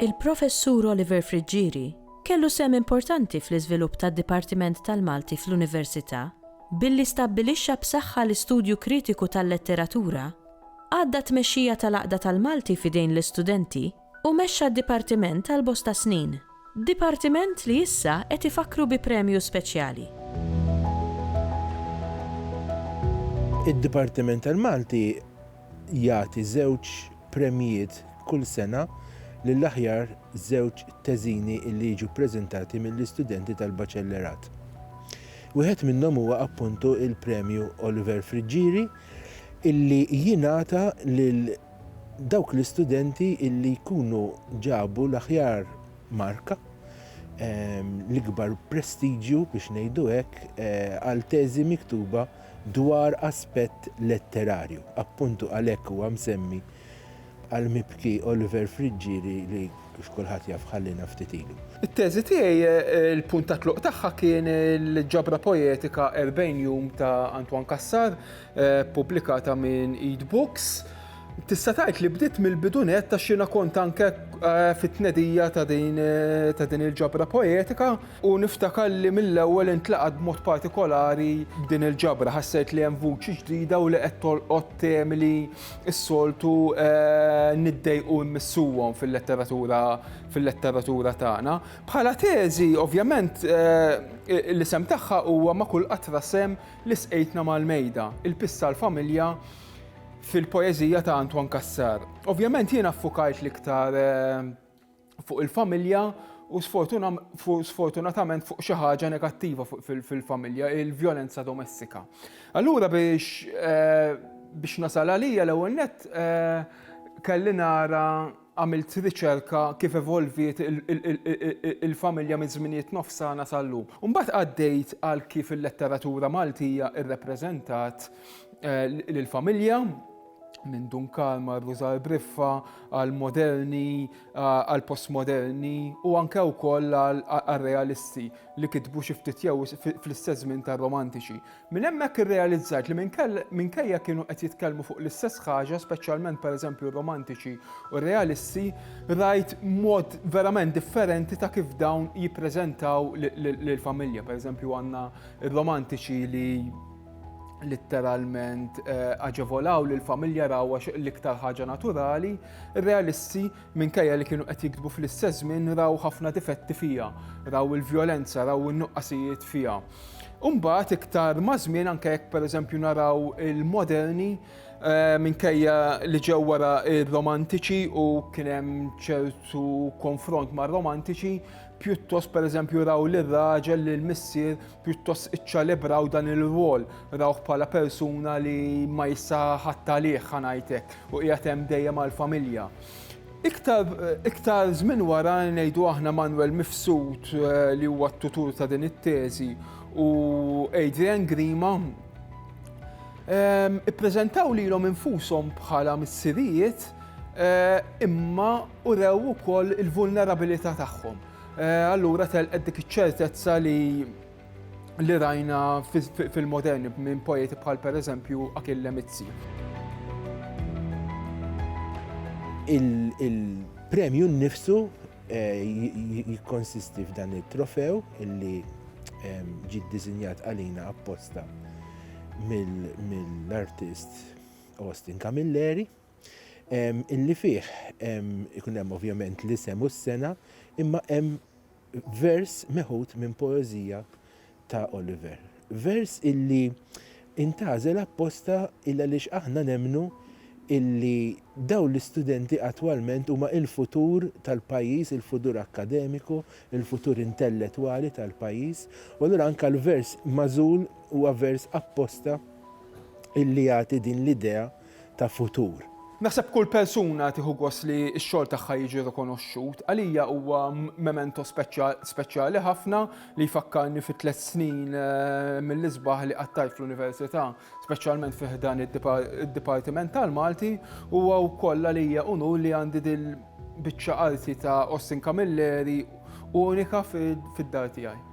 Il-Professur Oliver Friggieri kellu sehem importanti fl-iżvilupp tad-Dipartiment tal-Malti fl-Università billi stabbilixxa b'saħħa l-istudju kritiku tal-letteratura Għadda t-tmexxija tal-Għaqda tal-Malti f'idejn l-istudenti u mexxa d-dipartiment għal bosta snin. Dipartiment li issa qed ifakkru bi premju speċjali. Id-Dipartiment tal-Malti jagħti żewġ premjiet kull sena lill-aħjar żewġ teżini li jiġu ppreżentati mill-istudenti tal-Baċellerat. Wieħed minnhom huwa appuntu l-Premju Oliver Friggieri, illi jingħata lil dawk l-istudenti illi jkunu ġabu l-aħjar marka, l-ikbar prestiġju biex ngħidu hekk, għal teżi miktuba dwar aspett letterarju. Appuntu għalhekk huwa msemmi qal mibki Oliver Friggieri li kif kulħadd jaf ħalliena ftit ilu. It-teżi tiegħi l-punt ta' tluq tagħha kien il-ġabra poetika Erbgħin Jum ta' Antoine Cassar, ppubblikata minn Eid Books. Tista' tgħid li bdiet mill-bidu nett għax jiena kont anke fit-tnedija ta' din il-ġabra poetika u niftakar li mill-ewwel intlaqat b'mod partikolari b'din il-ġabra. Ħassejt li hemm vuċi ġdida u li qed tolqot temi li is-soltu niddejqu mmissuhom fil-letteratura fil-letteratura tagħna. Bħala teżi, ovvjament, l-isem tagħha huwa ma' kull qatra sem li sqejtna mal-mejda, il-pissa l-familja fil-poeżija ta' Antoine Cassar. Ovvjament jiena ffukajt l-iktar fuq il-familja u sfortunatament fuq xi ħaġa negattiva fil-familja, il-vjolenza domestika. Allura biex eh, biex nasal għalija l-ewwel net eh, kelli nara għamilt riċerka kif evolviet il-familja minn żminijiet nofsana sal-lum. Mbagħad għaddejt għal kif il-letteratura Maltija irrepreżentat eh, l-familja, minn Dunkal mar Rużal Briffa għal moderni, għal postmoderni u anke wkoll għal realisti li kitbu xi ftit jew fl-istess żmien tar-romantiċi. Minn hemmhekk irrealizzajt li minkejja kienu qed jitkellmu fuq l-istess ħaġa, speċjalment pereżempju r-romantiċi u r-realisti, rajt mod verament differenti ta' kif dawn jippreżentaw lill-familja. Pereżempju għandna r-romantiċi li litteralment eh, aġevolaw li l-familja rawa l-iktar ħaġa naturali, realisti minkejja li kienu qed jiktbu fl-istess żmien raw ħafna difetti fija, raw il-vjolenza, raw in-nuqqasijiet fija. Umbat iktar mażmien anke jekk pereżempju naraw il-moderni eh, minkejja li ġew wara ir-romantiċi u kien hemm ċertu konfront mar-romantiċi, pjuttost pereżempju raw lir-raġel li l-missier pjuttost iċċelebraw dan ir-rwol, rawh bħala persuna li ma jista' ħadd għalih ħa ngħid hekk, u qiegħed hemm dejjem għall-familja. Iktar, iktar żmien wara ngħidu aħna Manwel Mifsud eh, li huwa t-tutur ta' din it-teżi u Adrian Grima ehm, ippreżentaw lilhom infushom bħala missirijiet eh, imma urew ukoll il-vulnerabilità tagħhom. Eh, allura telqet dik iċ-ċertezza li li rajna fil-moderni minn poeti bħal per eżempju Akil Lemizzi. Il-premju nnifsu eh, jikkonsisti f'dan it-trofew illi ehm, ġid dizinjat għalina apposta mill-artist Austin Camilleri. illi fih ikun hemm ovvjament l-isem u s-sena, imma hemm vers meħud minn poeżija ta' Oliver. Vers illi intażel apposta il għaliex aħna nemnu illi daw l-istudenti attwalment huma il-futur tal-pajjiż, il-futur akkademiku, il-futur intelletwali tal-pajjiż, u allura anke l-vers magħżul huwa vers apposta illi jagħti din l-idea ta' futur. Naħseb kull persuna tieħu gost li x-xogħol tagħha jiġi rikonoxxut. Għalija huwa memento speċjali ħafna li jfakkarni fi tliet snin mill-isbaħ li qattajt fl-Università, speċjalment fi ħdan id-Dipartiment tal-Malti. Huwa wkoll għalija unur li għandi dil-biċċa arti ta' Austin Camilleri unika fid-dar tiegħi.